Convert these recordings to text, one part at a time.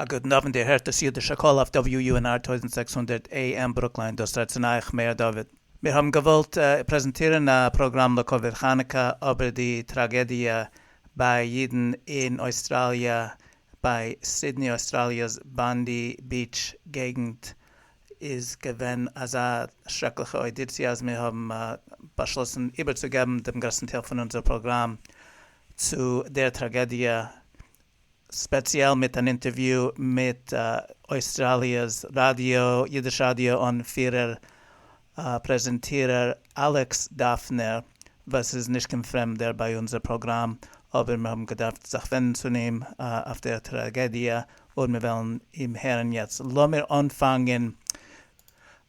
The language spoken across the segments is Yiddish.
א גוטן אוונט איר הערט דאס יודישע קול אויף WUNR טויזנט זעקס הונדערט AM ברוקלין דאס רעדט צון אייך מאיר דוד מיר האבן געוואלט פרעזענטירן א פראגראם לכבוד חנוכה אבער די טראגעדיע ביי אידן אין אויסטראליע ביי סידני אויסטראליע'ס באנדי ביעטש געגנט איז געווען אזא שרעקליכע אוידיציע אז מיר האבן באשלאסן איבערצוגעבן דעם גרעסטן טייל פון אונזער פראגראם צו דער טראגעדיע ספעציעל מיט אן אינטערוויו מיט אויסטראליע'ס ראדיא, אידיש ראדיא אנפירער, פרעזענטירער, אלעקס דאפנער, וואס איז נישט קיין פרעמדער ביי אונזער פראגראם, אבער מיר האבן געדארפט זיך ווענדן צו אים אויף דער טראגעדיע, און מיר וועלן אים הערן יעצט. לאמיר אנפאנגען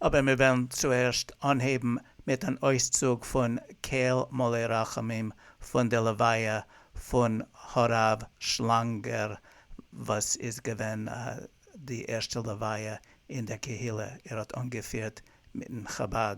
אבער מיר וועלן צוערשט אנהייבן מיט אן אויסצוג פון קהל מלא רחמים פון די לוויה פון הרב שלאנגער וואס איז געווען די ערשטע לוויה אין דער קהילה, ער האט אנגעפירט מיטן חבד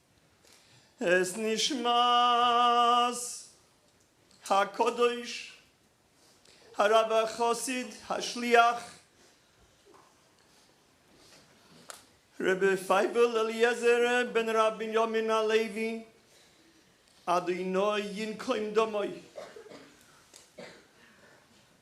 את נשמת הקדוש הרב החסיד השליח רבי פייבל אליעזר בן ר' בנימין הלוי אדוני ינקום דמו.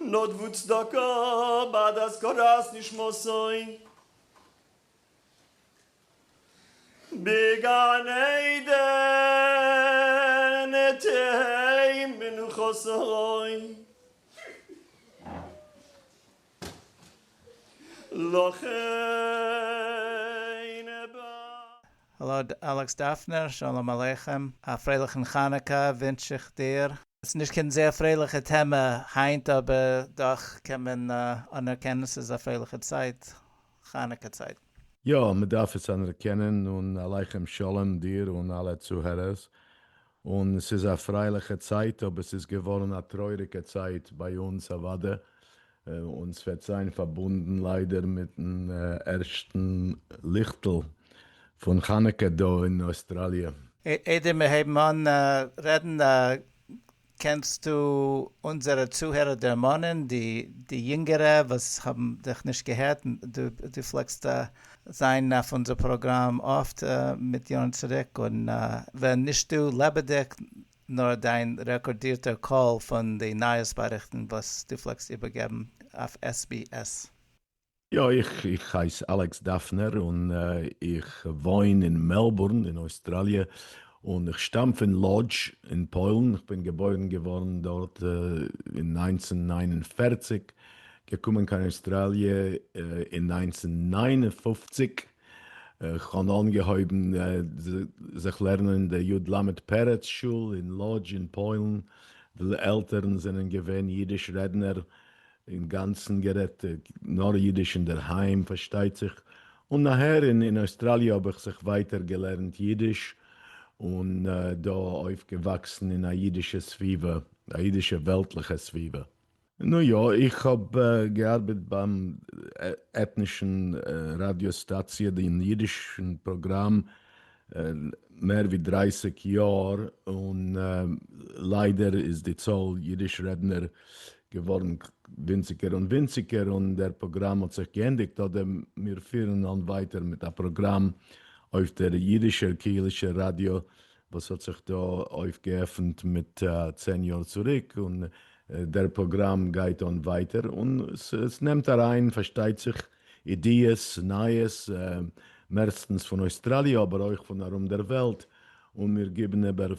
נאט וואו צדקה ביי די הזכרת נשמתו בגן עדן תהא מנוחתו לכן בא. האלא אלעקס דאפנער, שלום עליכם, א פרייליכן חנוכה ווינטש איך דיר. ס'איז נישט קיין זייער פרייליכע טעמע היינט אבער דאך קען מען אנערקענען ס'איז א פרייליכע צייט, חנוכה צייט. יא, מ'דארף עס אנערקענען, און עליכם שלום דיר און אלע צוהערערס, און ס'איז א פרייליכע צייט אבער ס'איז געווארן א טרויעריגע צייט ביי אונז אוואדע, און ס'וועט זיין פארבונדן ליידער מיטן ערשטן ליכטל פון חנוכה דא אין אויסטראליע. איידער מיר הייבן אן רעדן קענסטו אונזערע צוהערער דערמאנען, די יונגערע וואס האבן דיך נישט געהערט, דו פלעגסט זיין אויף אונזער פראגראם אפט מיט יארן צוריק און ווען נישט דא לעבעדיג נאר דיין רעקארדירטער קול פון די נייעס באריכטן וואס דו פלעגסט איבערגעבן אויף SBS. יא, איך הייס אלעקס דאפנער און איך וואוין אין מעלבורן אין אויסטראליע, און איך שטאם פון לאדזש אין פוילן, איך בין געבוירן געווארן דארט אין נײַנצן נײַן און פֿערציק, געקומען קיין אויסטראליע אין נײַנצן נײַן און פֿופֿציק, כ'האב אנגעהויבן זיך לערנען אין די יוד למד פרץ שול אין לאדזש אין פוילן, די עלטערן זענען געווען אידיש רעדנער, אינגאנצן גערעדט נאר אידיש אינדערהיים פארשטייט זיך, און נאכהער אין אויסטראליע האב איך זיך ווייטער געלערנט אידיש, און דא אויפגעוואקסן אין א אידישע סביבה, א אידישע וועלטליכע סביבה. נו יא, איך האב געארבעט ביים עטנישן ראדיא סטאציע, דעם אידישן פראגראם, מער ווי דרייסיג יאר, און ליידער איז די צאל אידיש רעדנער געווארן ווינציגער און ווינציגער, און דער פראגראם האט זיך געענדיגט, אדער מיר פירן אן ווייטער מיט א פראגראם אויף דער אידישער קהילישער ראדיא וואס האט זיך דא אויפגעעפנט מיט צען יאר צוריק, און דער פראגראם גייט אן ווייטער, און ס'נעמט אריין פארשטייט זיך אידיעס, נייעס, מערסטנס פון אויסטראליע אבער אויך פון ארום דער וועלט, און מיר גיבן איבער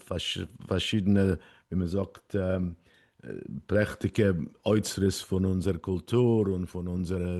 פארשידענע ווי מען זאגט פרעכטיגע אוצרות פון אונזער קולטור און פון אונזערע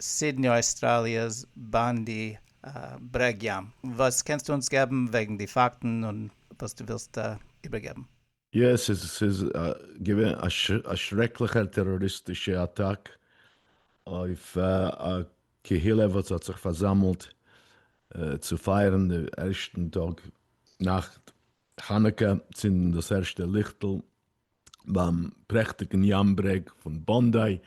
סידני אויסטראליע'ס באן די ברעג ים. וואס קענסטו אונז געבן וועגן די פאקטן און וואס דו ווילסט איבערגעבן? יא, ס'איז געווען א שרעקליכער טעראריסטישע אטאק אויף א קהילה וואס האט זיך פארזאמלט צו פייערן די ערשטן טאג נאכט חנוכה, צינדן דאס ערשטע ליכטל. ביים פרעכטיגן ים ברעג פון באנדיי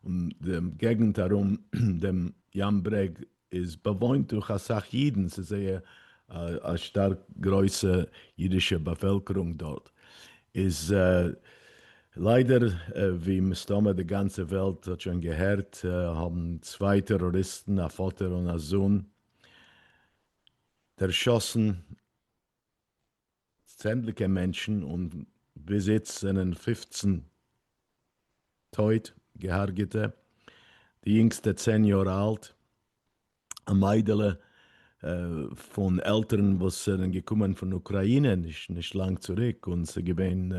און די געגנט ארום דעם ים ברעג איז באוואוינט דורך אסאך אידן, ס'איז זייער א שטארק גרויסע אידישע באפעלקערונג דארט, איז ליידער ווי מסתמא די גאנצע וועלט האט שוין געהערט האבן צוויי טעראריסטן א פאטער און א זון דערשאסן, צענדליגע מענטשן און ביז איצט זענען פֿופֿצן טויט געהארגעטע, די יונגסטע צען יאר אלט, א מיידעלע פון עלטערן וואס זענען געקומען פון אוקריינע נישט לאנג צוריק, און ס'איז געווען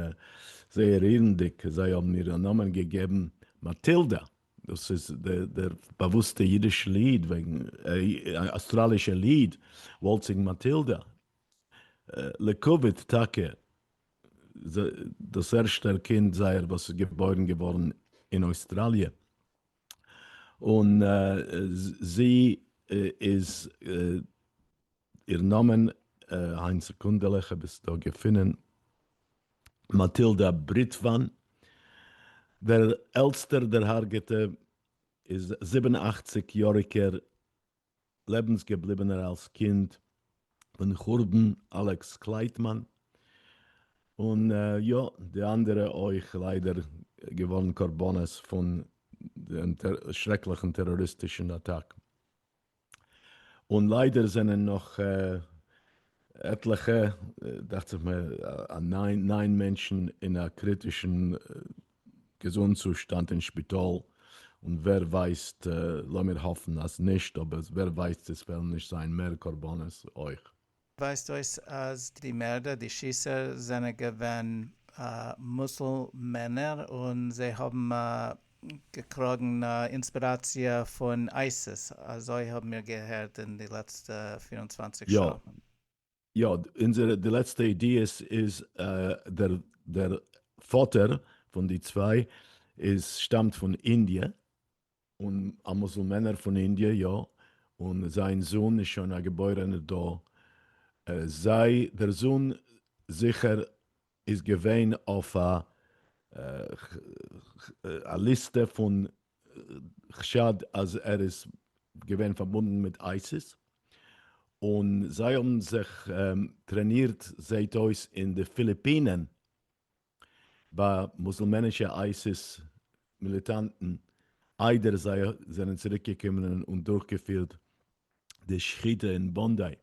זייער רירנדיג, זיי האבן איר א נאמען געגעבן מאטילדא, דאס איז דער באוואוסטע אידישע ליד, אסטראלישע ליד, וואלצינג מאטילדא, לעיקוואוד טאקע דאס ערשטער קינד זייער וואס איז געבוירן געווארן אין אויסטראליע, און זי איז, איר נאמען, איין סעקונדעלע כ'האב עס דא געפונען, מאטילדא בריטוואן, דער עלטסטער דערהארגעטע איז זיבן אכציג יאריגער לעבנס געבליבענער אלס קינד פון חורבן אלעקס קלייטמאן, און יא די אנדערע אויך ליידער געווארן קרבנות פון דעם שרעקליכן טעראריסטישן אטאק, און ליידער זענען נאך עטליכע דאכט זיך מיר ניין מענטשן אין א קריטישן געזונט צושטאנד אין שפיטאל, און ווער ווייסט, לאמיר האפן אז נישט, אבער ווער ווייסט עס וועלן נישט זיין מער קרבנות אויך. ווייזט אויס אז די מערדער, די שיסער, זענען געווען מוסולמענער און זיי האבן געקראגן אינספיראציע פון אייסיס, אזוי האבן מיר געהערט אין די לעצטע פֿיר און צוואַנציק שעה. יא, יא, אונזערע די לעצטע אידיאס איז דער דער פאטער פון די צוויי איז שטאמט פון אינדיע, און א מוסולמענער פון אינדיע יא, און זיין זון איז שוין א געבוירענער דא, זיי דער זון זיכער איז געווען אויף א ליסטע פון חשד אז ער איז געווען פארבונדן מיט אייסיס, און זיי האבן זיך טרענירט זעהט אויס אין די פיליפינען ביי מוסולמענישע אייסיס מיליטאנטן איידער זיי זענען צוריק געקומען און דורכגעפירט די שחיטה אין באנדיי.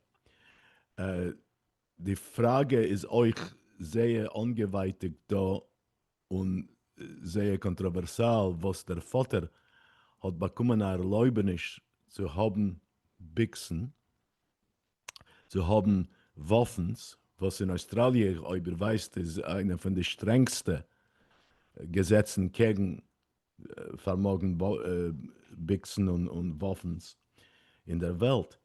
די פראגע איז אויך זייער אנגעווייטיגט דא און זייער קאנטראווערסאל וואס דער פאטער האט באקומען א ערלויבעניש צו האבן ביקסן, צו האבן וואפנס, וואס אין אויסטראליע אויב איר ווייסט איז איינע פון די שטרענגסטע געזעצן קעגן פארמאגן ביקסן און וואפנס אין דער וועלט,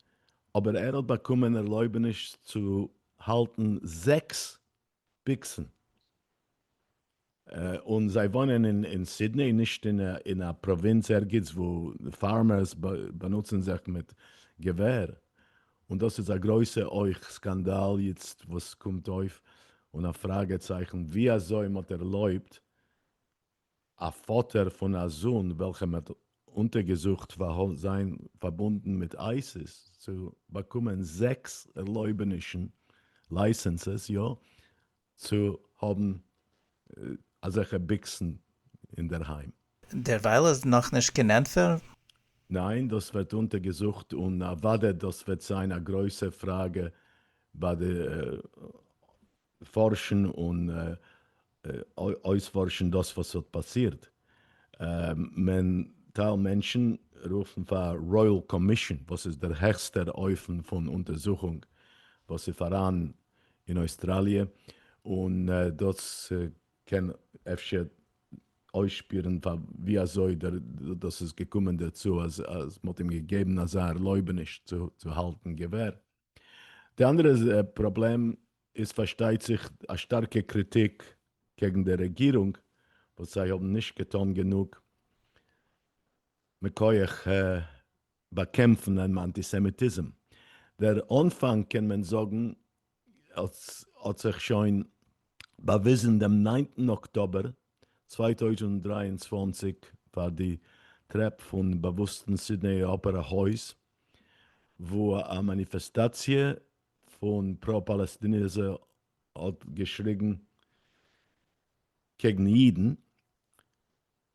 אבער ער האט באקומען ערלויבעניש צו האלטן זעקס ביקסן, און זיי וואוינען אין סידני, נישט אין א פראווינץ ערגעץ וואו פארמערס באנוצן זיך מיט געווער, און דאס איז א גרויסע אויך סקאנדאל יעצט וואס קומט אויף און א פראגע צייכן ווי אזוי מען האט ערלויבט א פאטער פון א זון וועלכע מען האט אונטערגעזוכט פאר זיין פארבונדן מיט אייסיס צו באקומען זעקס ערלויבענישן, לייסענסעס, יא, צו האבן אזעלכע ביקסן אינדערהיים. דערווייל איז נאכנישט קיין ענטפער? ניין, דאס ווערט אונטערגעזוכט און אוודאי דאס וועט זיין א גרויסע פראגע ביי די פארשן און אויספארשן דאס וואס האט פאסירט, מען טייל מענטשן רופן פאר רויעל קאמישאן וואס איז דער העכסטער אופן פון אונטערזוכונג וואס איז פאראן אין אויסטראליע, און דאס קען אפשר אויסשפירן פאר ווי אזוי דאס איז געקומען דערצו אז מען האט אים געגעבן אזא ערלויבעניש צו האלטן געווער. די אנדערע פראבלעם איז פארשטייט זיך א שטארקע קריטיק קעגן די רעגירונג וואס זיי האבן נישט געטאן גענוג מכח באקעמפן אנטיסעמיטיזם. דער אנפאנג קען מען זאגן האט זיך שוין באוויזן דעם ניינטן אקטאבער צוויי טויזנט דרײַ און צוואַנציק פאר די טרעפ פון באוואוסטן סידנעי אפערע הויז וואו א מאניפעסטאציע פון פרא פאלעסטינעזע האט געשריגן קעגן אידן.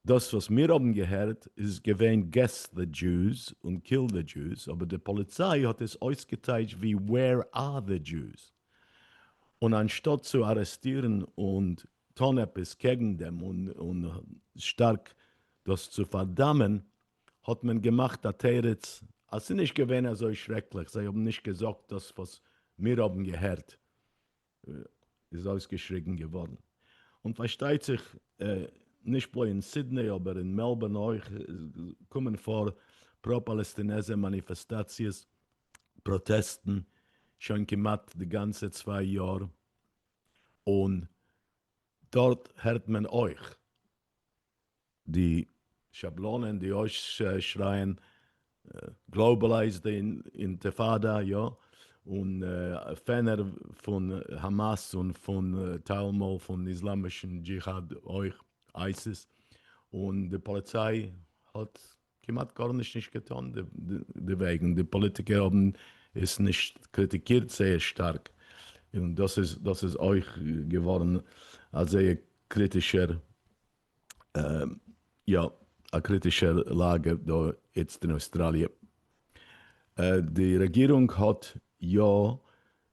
דאס וואס מיר האבן געהערט איז געווען געס דע דזשאוס און קיל דע דזשאוס אבער די פאליציי האט עס אויסגעטייטש ווי ווער אר דע דזשאוס און אנשטאט צו ארעסטירן און טון עפעס קעגן דעם און שטארק דאס צו פארדאמען, האט מען געמאכט א תירוץ אז ס'איז נישט געווען אזוי שרעקליך, זיי האבן נישט געזאגט דאס וואס מיר האבן געהערט איז אויסגעשריגן געווארן. און פארשטייט זיך נישט בלויז אין סידני אבער אין מעלבארן אויך קומען פאר פרא-פאלעסטינעזער מאניפעסטאציעס, פראטעסטן, שוין כמעט די גאנצע צוויי יאר. און דארט הערט מען אויך די שבלונות, די אויסשרייען גלאובעלייז די אינטיפאדא, יא, און פענער פון האמאס און פון טיילמאל פון איסלאמישן דזשיהאד אויך, אייסיס, און די פאליציי האט כמעט גארנישט נישט געטון דערוועגן, די פאליטיקער האבן עס נישט קריטיקירט זייער שטארק, און דאס איז דאס איז אויך געווארן א זייער קריטישער יא א קריטישער לאגע דא איצט אין אויסטראליע. די רעגירונג האט יא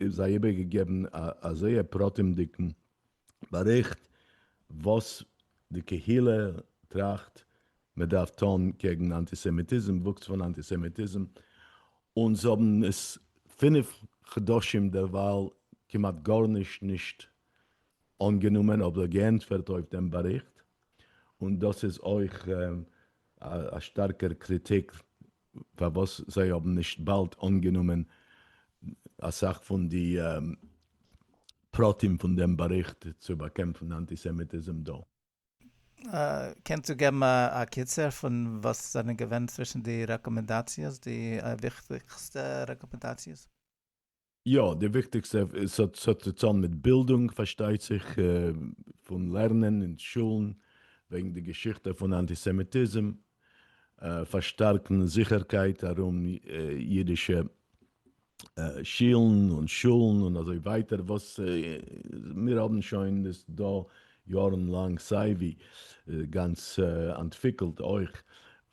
און זיי איבערגעגעבן א א זייער פרטים'דיגן באריכט וואס די קהילה טראכט מען דארף טון קעגן אנטיסעמיטיזם, וואוקס פון אנטיסעמיטיזם, און זיי האבן עס פינף חדשים דערווייל כמעט גארנישט נישט אנגענומען אדער געענטפערט אויף דעם באריכט, און דאס איז אויך א שטארקער קריטיק פארוואס זיי האבן נישט באלד אנגענומען אסאך פון די פרטים פון דעם באריכט צו באקעמפן אנטיסעמיטיזם דא. קענסטו געבן א קיצור פון וואס זענען געווען צווישן די רעקאמענדאציעס די וויכטיגסטע רעקאמענדאציעס? יא, די וויכטיגסטע, ס'האט צוזאם מיט בילדונג פארשטייט זיך, פון לערנען אין שולן וועגן די געשיכטע פון אנטיסעמיטיזם, פארשטארקן זיכערקייט ארום אידישע שילן און שולן און אזוי ווייטער, וואס מיר האבן שוין עס דא יארן לאנג סייווי גאנץ אנטוויקלט אויך,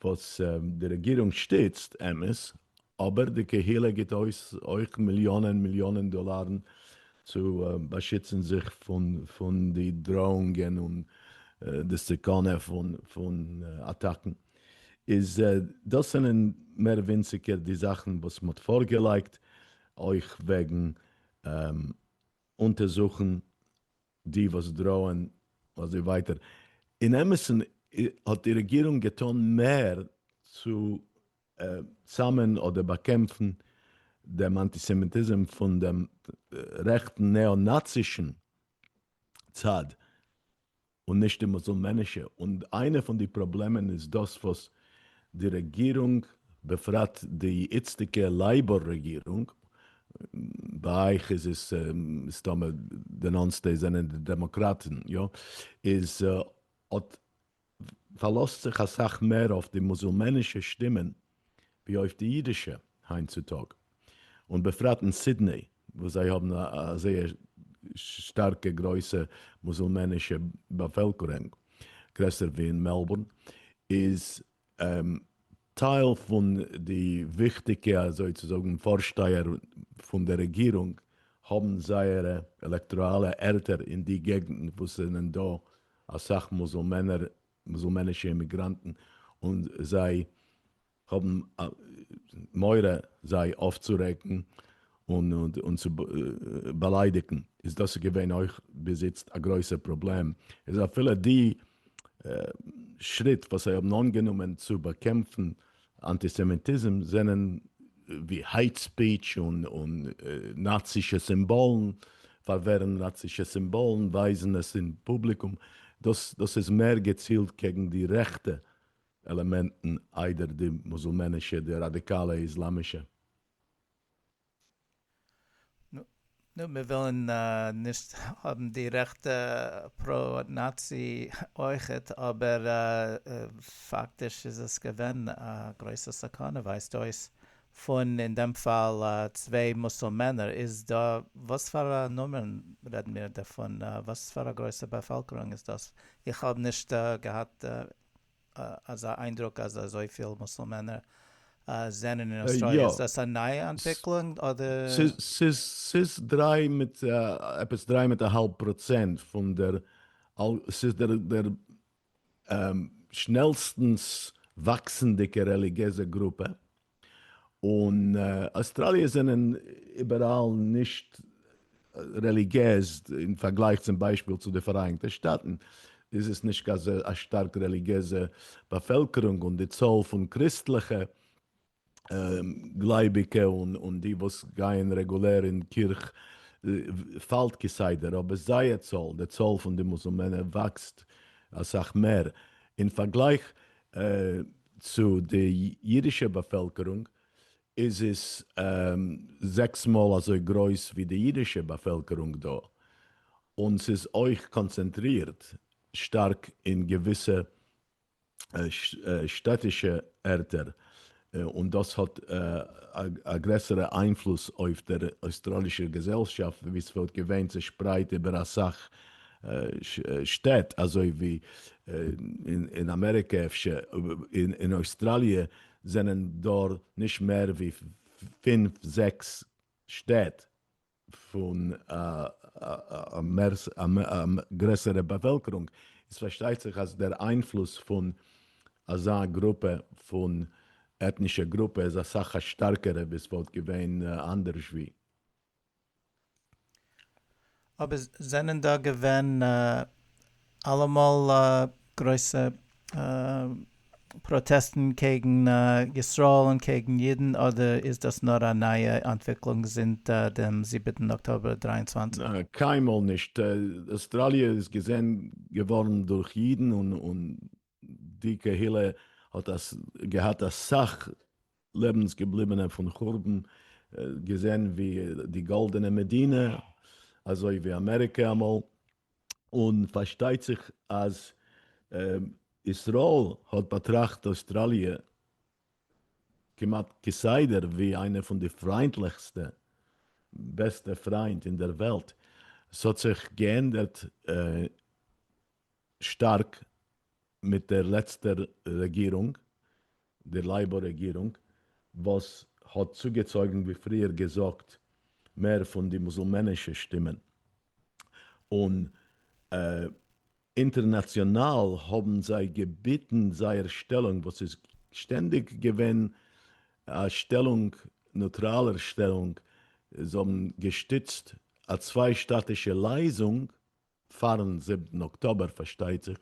וואס די רעגירונג שטיצט, אמת, אבער די קהילה גיט אויס אויך מיליאנען מיליאנען דאלארן צו באשיצן זיך פון די דראאונגען און די סכנה פון אטאקן. איז דאס זענען מער ווינציגער די זאכן וואס מ'האט פארגעלייגט, אויך וועגן אונטערזוכן די וואס דראען אזוי ווייטער. אין אמת'ן האט די רעגירונג געטאן מער צו צאמען אדער באקעמפן דעם אנטיסעמיטיזם פון דעם רעכטן נעא-נאצישן צד און נישט די מוסולמענישע, און איינע פון די פראבלעמען איז דאס וואס די רעגירונג, בפרט די איצטיגע לעיבאר רעגירונג, ביי אייך איז עס מסתמא די נאנסטע זענען די דעמאקראטן, יא, איז האט פארלאזט זיך אסאך מער אויף די מוזעלמענישע שטימען ווי אויף די אידישע היינט צו טאג, און בפרט אין סידני וואס זיי האבן א זייער שטארקע גרויסע מוזעלמענישע באפעלקורענג, גרעסער ווי אין מעלבורן, איז טייל פון די וויכטיגע אזוי צו זאגן פארשטייער פון דער רעגירונג האבן זייערע עלעקטאראלע ערטער אין די געגנטן וואס זענען דא אסאך מוזלמענער, מוזלמענישע אימיגראנטן, און זיי האבן מורא זיי אויפצורעגן, און צו באליידיגן, איז דאס איז געווען אויך ביז איצט א גרויסער פראבלעם, איז אפילו די שריט וואס זיי האבן אנגענומען צו באקעמפן אנטיסעמיטיזם זענען ווי העיט ספיטש און נאצישע סימבאלן, פארווערן נאצישע סימבאלן, ווייזן עס אין פובליקום, דאס איז מער געצילט קעגן די רעכטע עלעמענטן איידער די מוזלמענישע, די ראדיקאלע איסלאמישע. נו, מיר ווילן נישט האבן די רעכטע פרא נאצי אויכעט, אבער פאקטיש איז עס געווען א גרויסע סכנה ווייזט אויס פון אין דעם פאל צוויי מוסולמענער, איז דא וואס פאר א נומערן רעדן מיר דערפון? וואס פאר א גרויסע באפעלקערונג איז דאס? איך האב נישט געהאט. אזא איינדרוק אז אזויפיל מוסולמענער זענען אין אוסטראליע, איז דאס א נייע אנטוויקלונג אדער? ס'איז דריי מיט עפעס דריי מיט א האלב פראצענט פון דער, ס'איז דער שנעלסטנס וואקסנדיגער רעליגיעזע גרופע און אויסטראליע זענען איבעראל נישט רעליגיעז, אין פארגלייך צום ביישפיל צו די פאראייניגטע שטאטן איז עס נישט אזא א שטארק רעליגיעזע באפעלקערונג, און די צאל פון קריסטליכע גלייביגע און די וואס גייען רעגולער אין קירך פאלט כסדר, אבער זייער צאל, די צאל פון די מוסולמענער וואקסט אסאך מער, אין פארגלייך צו די אידישע באפעלקערונג איז עס זעקס מאל אזוי גרויס ווי די אידישע באפעלקערונג דא, און ס'איז אויך קאנצענטרירט שטארק אין געוויסע שטאטישע ערטער און דאס האט א גרעסערע איינפלוס אויף דער אויסטראלישער געזעלשאפט ווי ס'וואלט געווען צעשפרייט איבער אסאך שטעט אזוי ווי אין אמעריקע אפשר, אין אויסטראליע זענען דא נישט מער ווי פֿינף זעקס שטעט. פון א גרעסערע באפעלקערונג, איז פארשטייט זיך אז דער איינפלוס פון אזא גרופע פון עטנישע גרופע איז אסאך א שטארקערע ווי עס וואלט געווען אנדערש ווי. אבער זענען דא געווען אלעמאל גרויסע פראטעסטן קעגן ישראל און קעגן אידן אדער איז דאס נאר א נייע אנטוויקלונג זינט דעם זיבעטן אקטאבער דרײַ און צוואַנציק? קיינמאל נישט, אוסטראליע איז געזען געווארן דורך אידן און די קהילה האט געהאט אסאך לעבנס געבליבענע פון חורבן, געזען ווי די גאלדענע מדינה אזוי ווי אמעריקע אמאל, און פארשטייט זיך אז ישראל האט באטראכט אויסטראליע כמעט כסדר ווי איינע פון די פריינטליכסטע בעסטע פריינט אין דער וועלט, ס'האט זיך געענדערט. שטארק מיט דער לעצטער רעגירונג, די לעיבאר רעגירונג, וואס האט צוגעצויגן ווי פריער געזאגט מער פון די מוסולמענישע שטימען, און אינטערנאציאנאל האבן זיי געביטן זייער שטעלונג וואס איז שטענדיג געווען א שטעלונג, נוטראלער שטעלונג, זיי האבן געשטיצט א צוויי-שטאטישע לייזונג, פארן זיבטן אקטאבער פארשטייט זיך,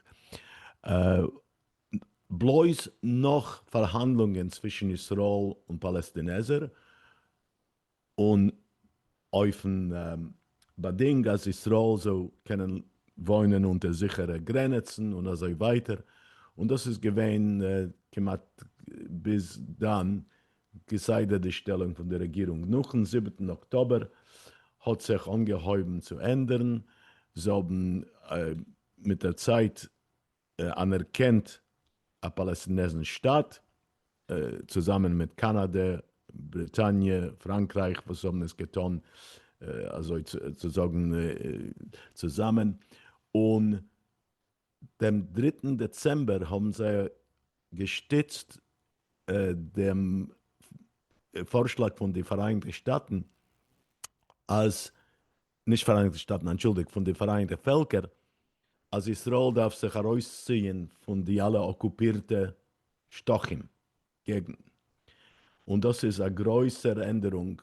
בלויז נאך פארהאנדלונגען צווישן ישראל און פאלעסטינעזער, און אויפן באדינג אז ישראל זאל קענען וואוינען אונטער זיכערע גרעניצן און אזוי ווייטער, און דאס איז געווען כמעט ביז דאן כסדר די שטעלונג פון די רעגירונג נאכן זיבעטן אקטאבער האט זיך אנגעהויבן צו ענדערן, זיי האבן מיט דער צייט אנערקענט א פאלעסטינעזן שטאַט, צוזאמען מיט קאנאדע, בריטאניע, פראנקרייך וואס האבן עס געטאן אזוי צו זאגן צוזאמען, און דעם דריטן דעצעמבער האבן זיי געשטיצט דעם פארשלאג פון די פאראייניגטע שטאטן אז, נישט פאראייניגטע שטאטן, אנטשולדיגט, פון די פאראייניגטע פעלקער, אז ישראל דארף זיך ארויסציען פון די אלע אקופירטע שטחים געגנטן. און דאס איז א גרויסער ענדערונג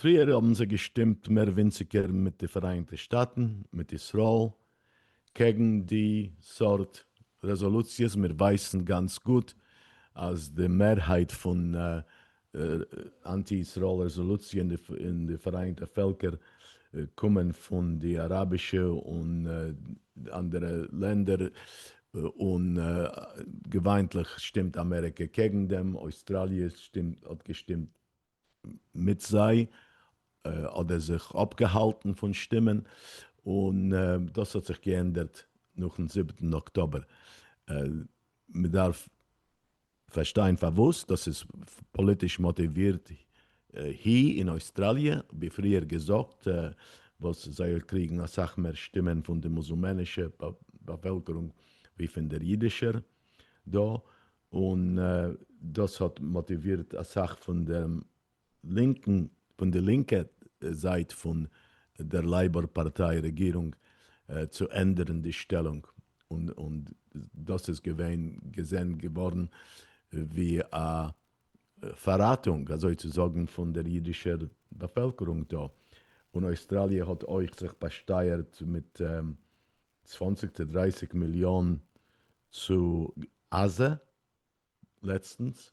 פריער האבן זיי געשטימט מער ווינציגער מיט די פאראיינטע שטאטן, מיט ישראל, קעגן די סארט רעזאלוציעס, מיר ווייסן גאנץ גוט אז די מערהייט פון אנטי ישראל רעזאלוציע אין די פאראיינטע פעלקער קומען פון די אראבישע און אנדערע לענדער, און געוויינטליך שטימט אמעריקע קעגן דעם, אויסטראליע האט געשטימט מיט זיי אדער זיך אפגעהאלטן פון שטימען, און דאס האט זיך געענדערט נאכן זיבעטן אקטאבער. מען דארף פארשטיין פארוואס דאס איז פאליטיש מאטיווירט הי אין אויסטראליע, ווי פריער געזאגט, וואס זיי קריגן אסאך מער שטימען פון די מוסולמענישע באפעלקערונג ווי פון דער אידישער דא, און דאס האט מאטיווירט אסאך פון דעם לינקן, פון די לינקע זייט פון דער לעיבאר פארטיי רעגירונג צו ענדערן די שטעלונג, און דאס איז געווען געזען געווארן ווי א פארראטונג אזוי צו זאגן פון דער אידישער באפעלקערונג דא, און אויסטראליע האט אויך זיך באשטייערט מיט צוואנציג צו דרייסיג מיליאן צו עזה לעצטנס,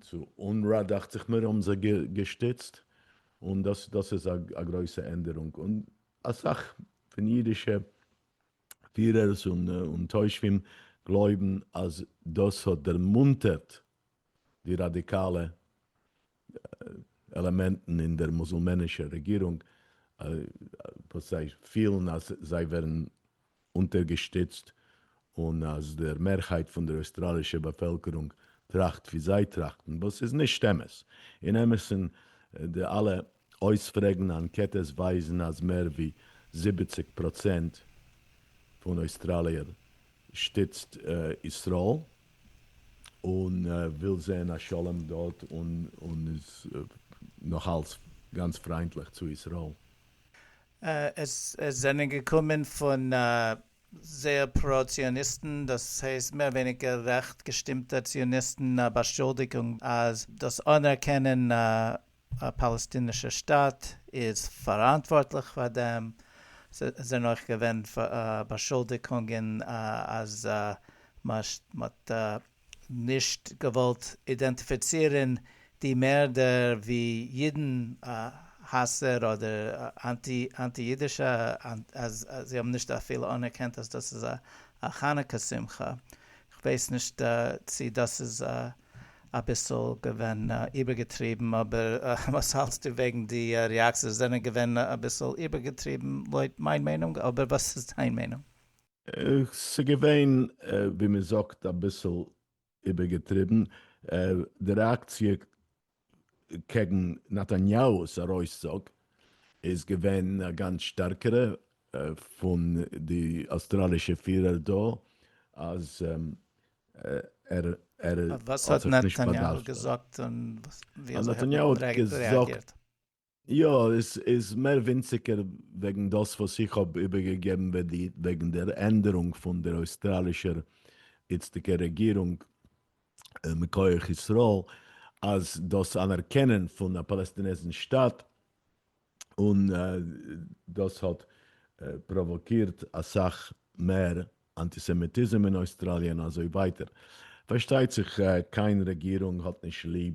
צו אונרא דאכט זיך מיר האבן זיי געשטיצט, און דאס דאס איז א גרויסע ענדערונג, און אסאך פון אידישע פירערס און תושבים גלויבן אז דאס האט דערמונטערט די ראדיקאלע עלעמענטן אין דער מוזלמענישער רעגירונג, וואס זיי פילן אז זיי ווערן אונטערגעשטיצט און אז דער מערהייט פון דער אויסטראלישער באפעלקערונג טראכט ווי זיי טראכטן, וואס איז נישט אמת. אין אמת'ן, די אלע אויספרעגן אנקעטעס ווייזן אז מער ווי זיבעציק פראצענט פון אויסטראליער שטיצט ישראל און וויל זען א שלום דארט און איז נאכאלץ גאנץ פריינטליך צו ישראל. עס זענען געקומען פון זייער פרא ציוניסטן, דאס הייסט מער ווייניגער רעכט געשטימטע ציוניסטן, א באשולדיגונג אז דאס אנערקענען א פאלעסטינישער שטאַט איז פאראנטווארטליך פאר דעם. עס זענען אויך געווען באשולדיגונגען אז מען האט נישט געוואלט אידענטיפיצירן די מערדער ווי אידן האסער אדער אנטי אידישע, אז זיי האבן נישט אפילו אנערקענט אז דאס איז א חנוכה שמחה. איך ווייס נישט צי דאס איז א. אביסל געווען איבערגעטריבן, אבער וואס האלטסטו וועגן די ריאקציעס? זיי זענען געווען אביסל איבערגעטריבן לויט מיין מיינונג, אבער וואס איז דיין מיינונג? ס'איז געווען ווי מ'זאגט אביסל איבערגעטריבן, די ריאקציע קעגן נתניהו'ס ארויסצוג איז געווען א גאנץ שטערקערע פון די אויסטראלישע פירער דא אז ער ער האט זיך נישט באדארפט. וואס האט נתניהו געזאגט און ווי אזוי האט מען רעאגירט? יא, עס איז מער ווינציגער וועגן דאס וואס איך האב איבערגעגעבן וועגן דער ענדערונג פון דער אויסטראלישער איצטיגער רעגירונג מכח ישראל, אז דאס אנערקענען פון א פאלעסטינעזן שטאַט, און דאס האט פראוואקירט אסאך מער אנטיסעמיטיזם אין אויסטראליע און אזוי ווייטער. פארשטייט זיך קיין רעגירונג האט נישט ליב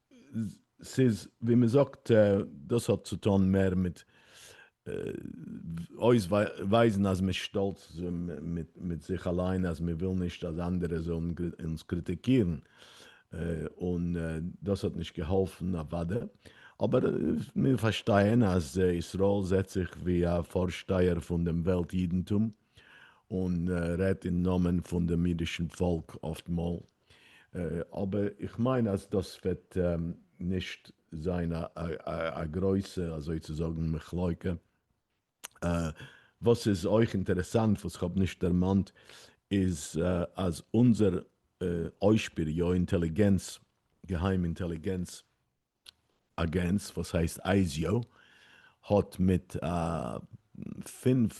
ס'איז ווי מען זאגט, דאס האט צו טון מער מיט אויסווייזן אז מ'איז שטאלץ מיט זיך אליין אז מען וויל נישט אז אנדערע זאלן אונז קריטיקירן, און דאס האט נישט געהאלפן אוודאי, אבער מיר פארשטייען אז ישראל זעט זיך ווי א פארשטייער פון דעם וועלט אידנטום, און רעדט אין נאמען פון דעם אידישן פאלק אפט מאל, אבער איך מיין אז דאס וועט נישט זיין א גרויסע אזוי צו זאגן מחלוקה. וואס איז אויך אינטערעסאנט וואס כ'האב נישט דערמאנט איז אז אונזער אוישפיר יא אינטעליגענץ, געהיים אינטעליגענץ, אגענס וואס הייסט אייזיאו האט מיט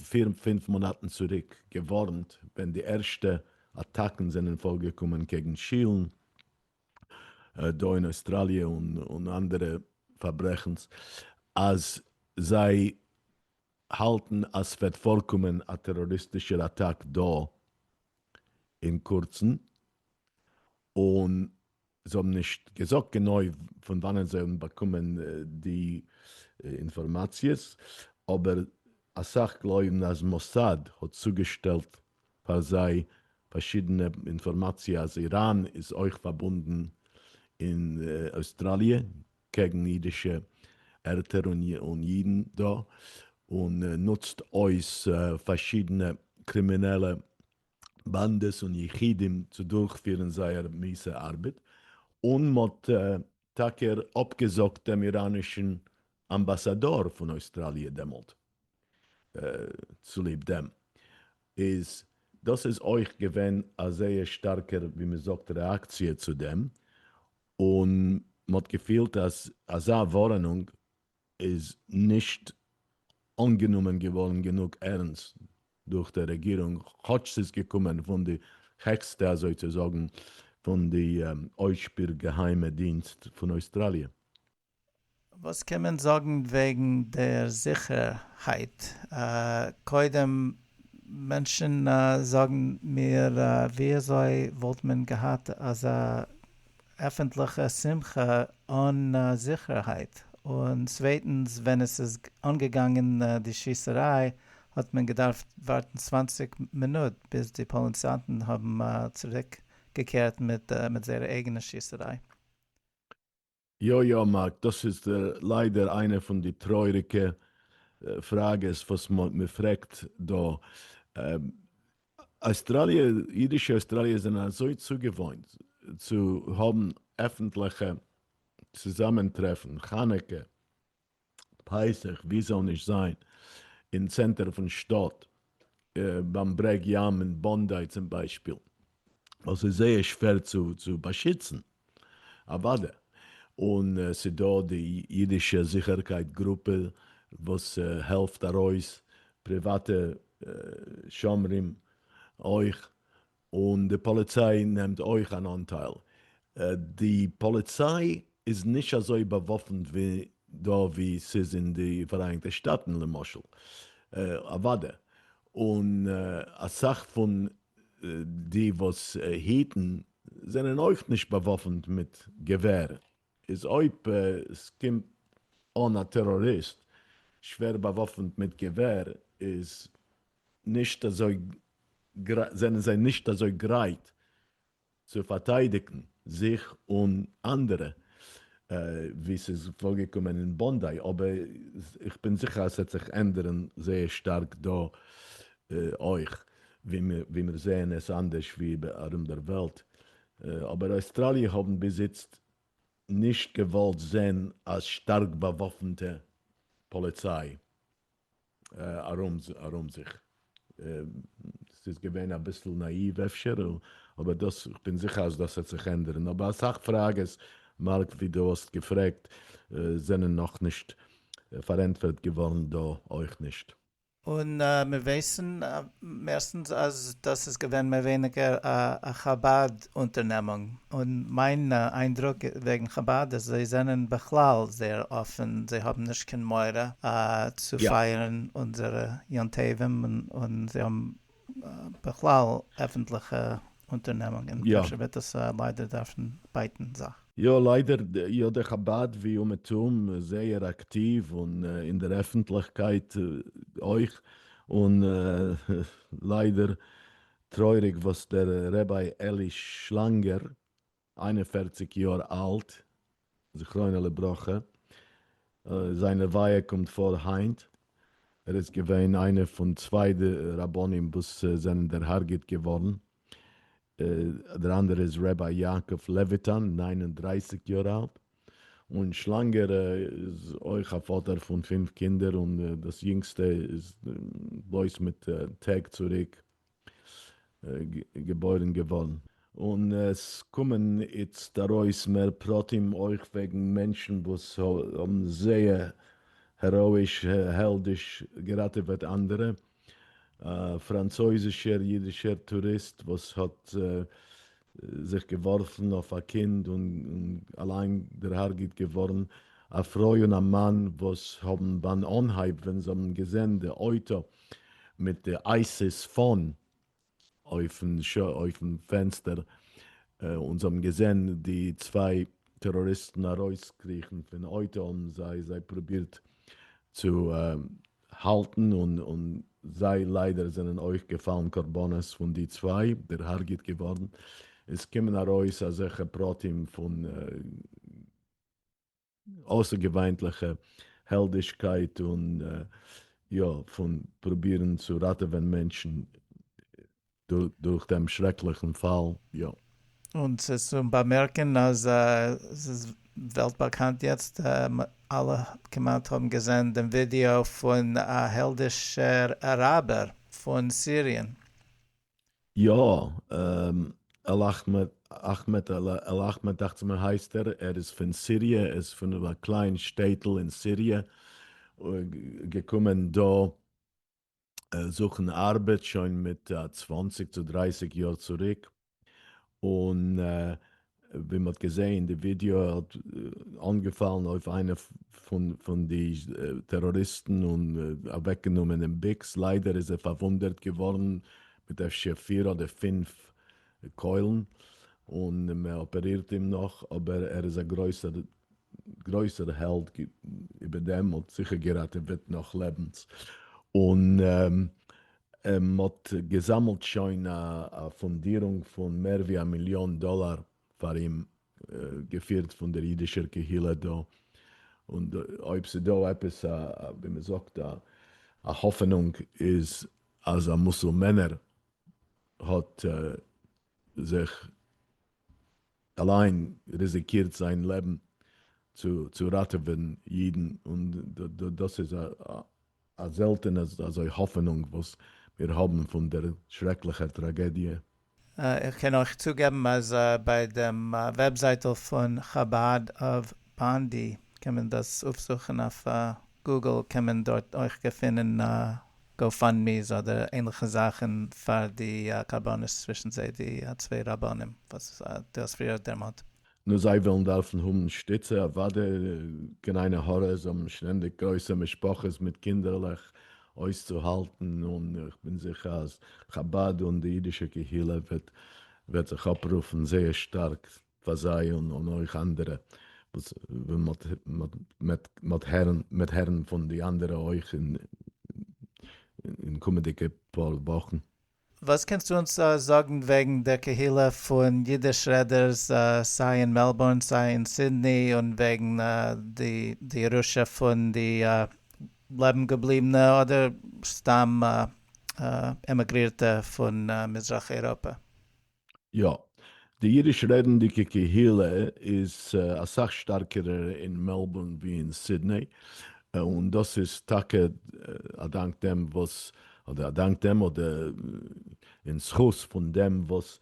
פיר פינף מאנאטן צוריק געווארנט ווען די ערשטע אטאקן זענען פארגעקומען קעגן שילן דא אין אויסטראליע און אנדערע פארברעכנס אז זיי האלטן אז סוועט פארקומען א טעראריסטישער אטאק דא אין קורצן און זיי האבן נישט געזאגט גענוי פון וואנען זיי האבן באקומען די אינפארמאציעס, אבער אסאך גלויבן אז מוסד האט צוגעשטעלט פאר זיי פארשידענע אינפארמאציע אז איראן איז אויך פארבונדן אין אויסטראליע קעגן אידישע ערטער און אידן דא, און נוצט אויס פארשידענע קרימינעלע באנדעס און יחידים צו דורכפירן זייער מיסע ארבעט, און מ'האט טאקע אפגעזאגט דעם איראנישן אמבאסאדאר פון אויסטראליע דעמאלט צוליב דעם, איז דאס איז אויך געווען א זייער שטארקע ווי מ'זאגט רעאקציע צו דעם, און מ'האט געפילט אז אזא ווארענונג איז נישט אנגענומען געווארן גענוג ערנסט דורך די רעגירונג כאטש ס'איז געקומען פון די העכסטע אזוי צו זאגן פון די אויסשפיר געהיימע דינסט פון אויסטראליע. וואס קען מען זאגן וועגן דער זיכערהייט? קודם, מענטשן זאגן מיר, ווי אזוי וואלט מען געהאט אזא עפענטליכע שמחה אן זיכערהייט, און צווייטנס ווען עס איז אנגעגאנגען די שיסעריי האט מען געדארפט ווארטן צוואַנציק מינוט ביז די פאליצאנטן האבן צוריק געקערט מיט מיט זייער אייגענע שיסעריי. יא יא מארק, דאס איז ליידער איינע פון די טרויעריגע פראגעס וואס מ'פרעגט דא, אויסטראליע, אידישע אויסטראליער זענען אזוי צוגעוואוינט צו האבן עפנטליכע צוזאמען טרעפן, חנוכה, פסח, ווי זאל נישט זיין אין צענטער פון שטאט, ביים ברעג ים אין באנדיי צום ביישפיל, ווייל ס'איז זייער שווער צו באשיצן. אוואדע. און ס'דא די אידישע זיכערקייט גרופע וואס העלפט ארויס, פריוואטע שומרים אויך, און די פאליציי נעמט אויך אן אנטייל. די פאליציי איז נישט אזוי באוואפנט ווי דא ווי ס'איז אין די פאראייניגטע שטאטן למשל. אוואדע. און אסאך פון די וואס היטן זענען אויך נישט באוואפנט מיט געווער, איז אויב עס קומט אן א טעראריסט שווער באוואפנט מיט געווער איז נישט אזוי זענען זיי נישט אזוי גרייט צו פארטיידיגן זיך און אנדערע, ווי ס'איז פארגעקומען אין באנדיי, אבער איך בין זיכער אז ס'וועט זיך ענדערן זייער שטארק דא אויך, ווי מיר זעען עס אנדערש ווי ארום דער וועלט, אבער אויסטראליע האבן ביז איצט נישט געוואלט זען א שטארק באוואפנטע פאליציי. ארום זיך. ס'איז געווען אביסל נאאיוו אפשר, אבער דאס, כ'בין זיכער אז דאס העט זיך ענדערן, אבער אסאך פראגעס, מארק, ווי דו האסט געפרעגט, זענען נאכנישט פארענטפערט געווארן דא אויך נישט. און מיר ווייסן מערסטנס אז דאס איז געווען מער ווייניגער א חבד אונטערנעמונג, און מיין איינדרוק וועגן חבד איז זיי זענען בכלל זייער אפען, זיי האבן נישט קיין מורא צו פייערן אונזערע יום טובים, און זיי האבן בכלל עפענטליכע אונטערנעמונגען, אפשר וועט עס ליידער דארפן בייטן זיך. יא ליידער, יא די חבד ווי אומעטום זייער אקטיוו און אין דער עפענטליכקייט אויך, און ליידער טרויעריג וואס דער רבי אלי שלאנגער, איין און פֿערציק יאר אלט, זכרונו לברכה, זיין לוויה קומט פאר היינט, ער איז געווען איינער פון צוויי די רבנים וואס זענען דערהארגעט געווארן, דער אנדערע איז רבי יעקב לעוויטאן, נײַן און דרײַסיק יאר אלט, און שלאנגער איז אויך א פאטער פון פֿינף קינדער און דאס יונגסטע איז בלויז מיט טעג צוריק געבוירן געווארן. און עס קומען איצט ארויס מער פרטים אויך וועגן מענטשן וואס האבן זייער העראאיש העלדיש געראטעוועט אנדערע, א פראנצויזישער אידישער טוריסט וואס האט זיך געווארפן אויף א קינד און אליין דערהארגעט געווארן, א פרוי און א מאן וואס האבן ביים אנהייב ווען זיי האבן געזען די אויטא מיט די אייסיס פאן אויפן פענסטער און זיי האבן געזען די צוויי טעראריסטן ארויסקריכן פון אויטא האבן זיי זיי פרובירט צו האלטן און און זיי ליידער זענען אויך געפאלן קרבנות פון די צוויי דערהארגעט געווארן, עס קומען ארויס אזעלכע פרטים פון אויסערגעוויינטליכע העלדישקייט און יא פון פרובירן צו ראטעווען מענטשן דורך דעם שרעקליכן פאל, יא. און ס'איז צו באמערקן אז ס'איז וועלט באקאנט יעצט, אלע כמעט האבן געזען דעם ווידיאו פון א העלדישער אראבער פון סיריען. יא, על אכמעד, אכמעד, על אכמעד דאכצעך מיר הייסט ער, ער איז פון סיריע, ער איז פון א קליין שטעטל אין סיריע, געקומען דא, זוכן ארבעט שוין מיט צוואַנציק צו דרייסיג יאר צוריק, און ווי מ'האט געזעהן אין די ווידיאו ער האט אנגעפאלן אויף איינע פון די טעראריסטן און אוועקגענומען דעם ביקס, ליידער איז ער פארוואונדערט געווארן מיט אפשר פיר אדער פינף קוילן, און מ'אפערירט אים נאך, אבער ער איז א גרויסער גרויסער העלד איבער דעם האט זיכער געראטעוועט נאך לעבנס און מ'האט געזאמלט שוין א פאנדירונג פון מער ווי א מיליאן דאלאר פאר אים געפירט פון דער אידישער קהילה דא און אויב ס'דא עפעס א ווי מ'זאגט א האפענונג איז אז א מוסולמענער האט זיך אליין ריזיקירט זיין לעבן צו ראטעווען אידן, און דאס איז א זעלטענע אזוי האפענונג וואס מיר האבן פון דער שרעקליכער טראגעדיע. איך קען אויך צוגעבן אז ביי דעם וועבזייטל פון חבד אוו באנדי קען מען דאס אויפזוכן אויף גוגל קען מען דארט אויך געפינען גאו פאנד מי'ס אדער ענליכע זאכן פאר די קרבנות צווישן זיי די צוויי רבנים וואס דו האסט פריער דערמאנט. נו זיי וועלן דארפן האבן שטיצע אוודאי, געניינע הארעס האבן שטענדיג גרויסע משפחות מיט קינדערלעך אויסצוהאלטן און איך בין זיכער אז חבד און די אידישע קהילה וועט זיך אפרופן זייער שטארק פאר זיי און אויך אנדערע וואס מ'וועט הערן פון די אנדערע אויך אין קומענדיגע פאר וואכן. וואס קענסטו אונז זאגן וועגן דער קהילה פון אידיש רעדערס סיי אין מעלבורן סיי אין סידני און וועגן די ירושה פון די לעבן געבליבענע אדער סתם עמיגרירטע פון מזרח אייראפע? יא. די אידיש רעדנדיגע קהילה איז אסאך שטארקערע אין מעלבורן ווי אין סידני, און דאס איז טאקע אדאנק דעם וואס, אדער אדאנק דעם, אדער אין זכות פון דעם וואס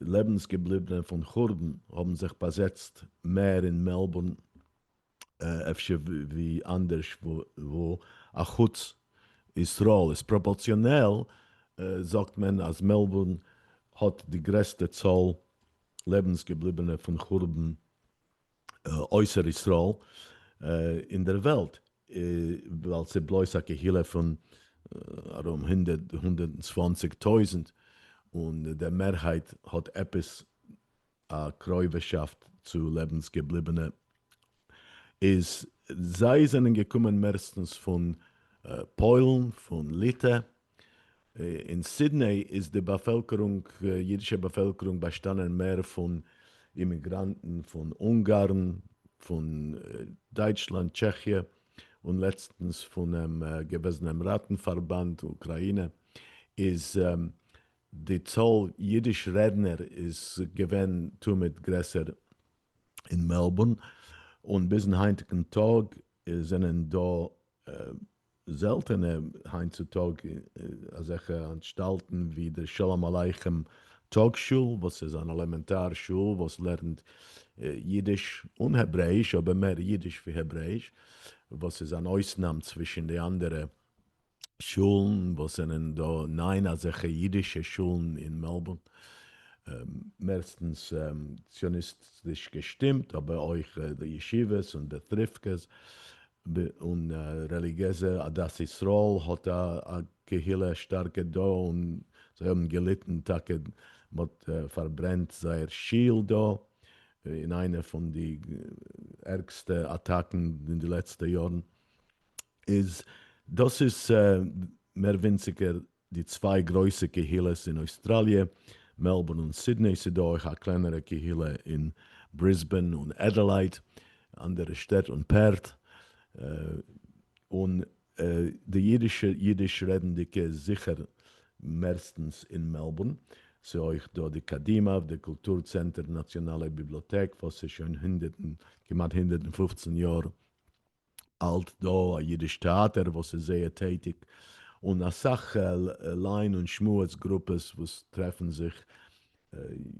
לעבנסגעבליבענע פון חורבן האבן זיך באזעצט מער אין מעלבורן אפשר ווי אנדערש וואו אחוץ ישראל איז פראפארציאנעל זאגט מען אז מעלבורן האט די גרעסטע צאל לעבנס געבליבענע פון חורבן אויסער ישראל אין דער וועלט ווייל ס'איז בלויז א קהילה פון ארום הונדערט צוואַנציק טויזענט און דער מערהייט האט עפעס א קרויבערשאפט צו לעבנס געבליבענע איז זיי זענען געקומען מערסטנס פון פוילן פון ליטע, אין סידני איז די באפעלקערונג אידישע באפעלקערונג באשטאנען מער פון אימיגראנטן פון אונגארן פון דייטשלאנד טשעכיע און לעצטנס פונעם געוועזענעם ראטן פארבאנד אוקראינע איז די צאל אידיש רעדנער איז געווען תמיד גרעסער אין מעלבורן, און ביזן היינטיגן טאג זענען דא זעלטענע היינט צו טאג אזעלכע אנטשטאלטן ווי דער שלום עליכם טאג שול, וואס איז אן עלעמענטאר שול וואס לערנט אידיש און העברעאיש, אבער מער אידיש ווי העברעאיש, וואס איז אן אויסנאם צווישן די אנדערע שולן וואס זענען דא, ניין אזעלכע אידישע שולן אין מעלבורן, מערסטנס ציוניסטיש געשטימט, אבער אויך די ישיבות און די טריפקעס, און רעליגיעזע, עדת ישראל האט א קהילה שטארקע דא, און זיי האבן געליטן טאקע, מ'האט פארברענט זייער שול דא, אין איינע פון די ערגסטע אטאקן אין די לעצטע יארן, איז דאס איז מער ווינציגער די צוויי גרויסע קהילות אין אויסטראליע, מעלבורן און סידני, ס'איז דא אויך א קלענערע קהילה אין בריסבען און עדעלייד, אנדערע שטעט און פערט, און די אידישע אידיש רעדנדיגע איז זיכער מערסטנס אין מעלבורן, ס'איז אויך דא די קדימה, די קולטור צענטער נאציאנאלע ביבלאטעק וואס איז שוין הונדערט און כמעט הונדערט און פֿופֿצן יאר, האלט דא א אידיש טעאטער וואס איז זייער טעטיג און אסאך ליין און שמועס גרופעס וואס טרעפן זיך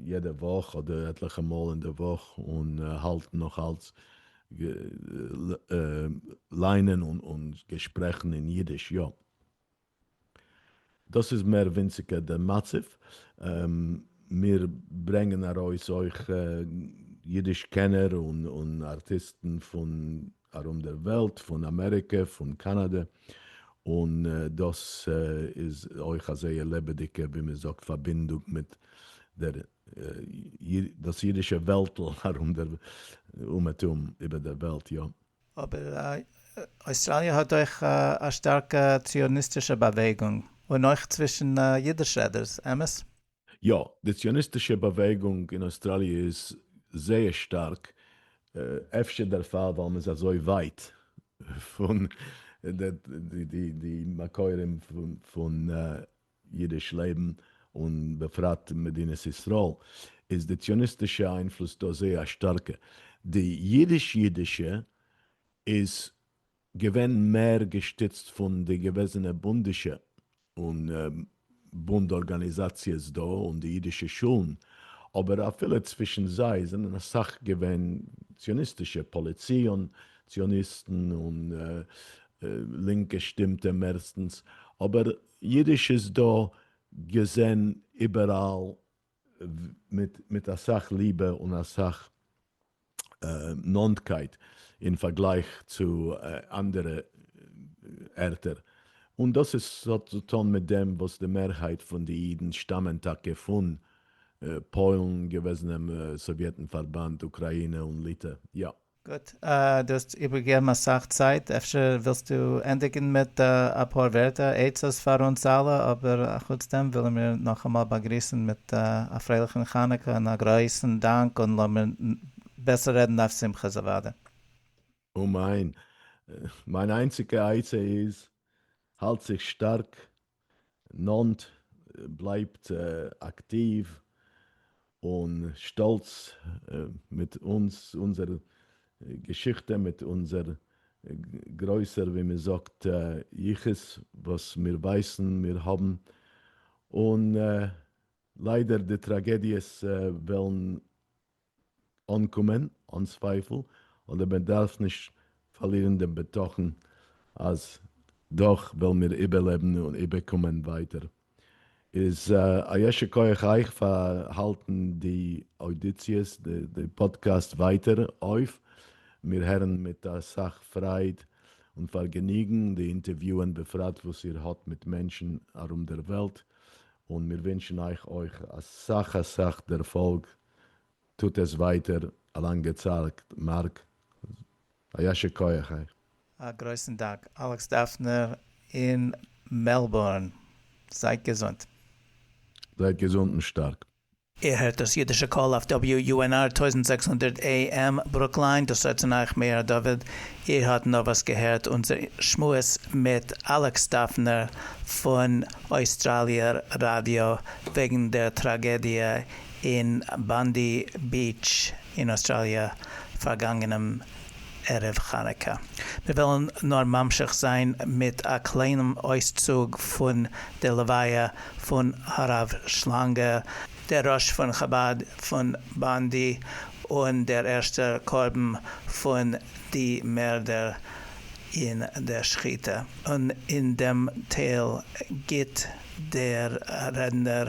יעדע וואך אדער עטליכע מאל אין די וואך און האלטן נאך אלץ ליינען און געשפרעכן אין אידיש יא. דאס איז מער ווינציגער דער מצב. מיר ברענגען ארויס אויך אידיש קענער און ארטיסטן פון ארום דער וועלט, פון אמעריקע, פון קאנאדע, און דאס איז אויך א זייער לעבעדיגע, ווי מען זאגט, פארבינדונג מיט דאס אידישע וועלטל ארום דער אומעטום, איבער דער וועלט, יא. אבער אויסטראליע האט אויך א שטארקע ציוניסטישע באוועגונג, און אויך צווישן אידיש רעדערס, אמת? יא, די ציוניסטישע באוועגונג אין אויסטראליע איז זייער שטארק, אפשר דערפאר ווייל מען איז אזוי ווייט פון די מקורים פון אידיש לעבן און בפרט מדינת ישראל איז די ציוניסטישע איינפלוס דא זייער א שטארקע, די אידיש אידישע איז געווען מער געשטיצט פון די געוועזענע בונדישע און בונד ארגאניזאציעס דא און די אידישע שולן, אבער אפילו צווישן זיי זענען אסאך געווען ציוניסטישע פאליציאן ציוניסטן און לינק געשטימטע מערסטנס, אבער אידיש איז דא געזען איבעראל מיט אסאך ליבע און אסאך נאנטקייט אין פארגלייך צו אנדערע ערטער, און דאס איז האט צו טון מיט דעם וואס די מערהייט פון די אידן שטאמען טאקע פון פוילן, געוועזענעם סאוויעטן פארבאנד, אוקראינע און ליטע, יא. גוט, דו האסט איבערגעגעבן אסאך צייט, אפשר ווילסטו ענדיגן מיט אפאר ווערטער עצות פאר אונז אלע, אבער אחוץ דעם ווילן מיר נאכאמאל באגריסן מיט א פרייליכן חנוכה און א גרויסן דאנק און לאמיר בעסער רעדן אויף שמחות אוודאי. אמן, מיין איינציגע עצה איז, האלט זיך שטארק נאנט, בלייבט אקטיוו און שטאלץ מיט אונז, אונזער געשיכטע, מיט אונזער גרויסער ווי מען זאגט יחוס וואס מיר ווייסן מיר האבן, און ליידער די טראגעדיעס וועלן אנקומען אן צווייפל, אדער מען דארף נישט פארלירן דעם בטחון אז דאך וועלן מיר איבערלעבן און איבערקומען ווייטער. איז א יישר כח אייך פאר האלטן די אודיציעס, די פאדקעסט ווייטער אויף, מיר הערן מיט אסאך פרייד און פארגעניגן די אינטערוויוען בפרט וואס איר האט מיט מענטשן ארום דער וועלט, און מיר ווינטשן אייך אויך אסאך אסאך דערפאלג טוט עס ווייטער א לאנגע צייט מארק. א יישר כח אייך. א גרויסן דאנק אלעקס דאפנער אין מעלבורן. זייט געזונט. זייט געזונט און שטארק. איר הערט דאס אידישע קול אויף WUNR טויזנט זעקס הונדערט AM ברוקליין, דאס ארט פון אייך מאיר דוד, איר האט נארוואס געהערט אונזער שמועס מיט אלעקס דאפנער פון אויסטראליער ראדיא וועגן דער טראגעדיע אין באנדי ביעטש אין אויסטראליע פארגאנגענעם ערב חנוכה. מיר וועלן נאר ממשיך זיין מיט א קליינעם אויסצוג פון די לוויה פון הרב שלאנגע, דער ראש פון חבד פון באנדי און דער ערשטער קרבן פון די מערדער אין דער שחיטה, און אין דעם טייל גיט דער רעדנער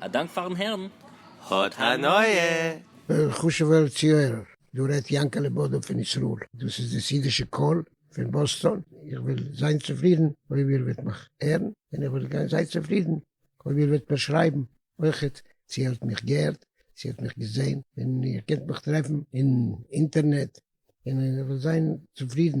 א דאנק פארן הערן, האט הנאה! חשובער צוהערער, דא רעדט יענקעלע בודא פון ישראל, דאס איז דאס אידישע קול פון באסטאן, איך וועל זיין צופרידן אויב איר וועט מיך הערן, און איך וועל גיין זייער צופרידן אויב איר וועט מיר שרייבן אויכעט צו איר האט מיך געהערט, צו איר האט מיך געזען, און איר קענט מיך טרעפן אין אינטערנעט, און איך וועל זיין צופרידן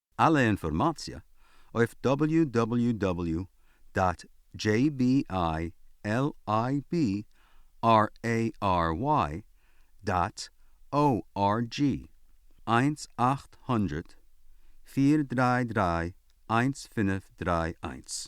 אלע אינפארמאציע אויף דאבעליו דאבעליו דאבעליו דאט דזשעי בי איי על איי בי אר עי אר וויי דאט או אר דזשי, איינס אַכט הונדרעט פֿיר דרײַ דרײַ איינס פֿינף דרײַ איינס.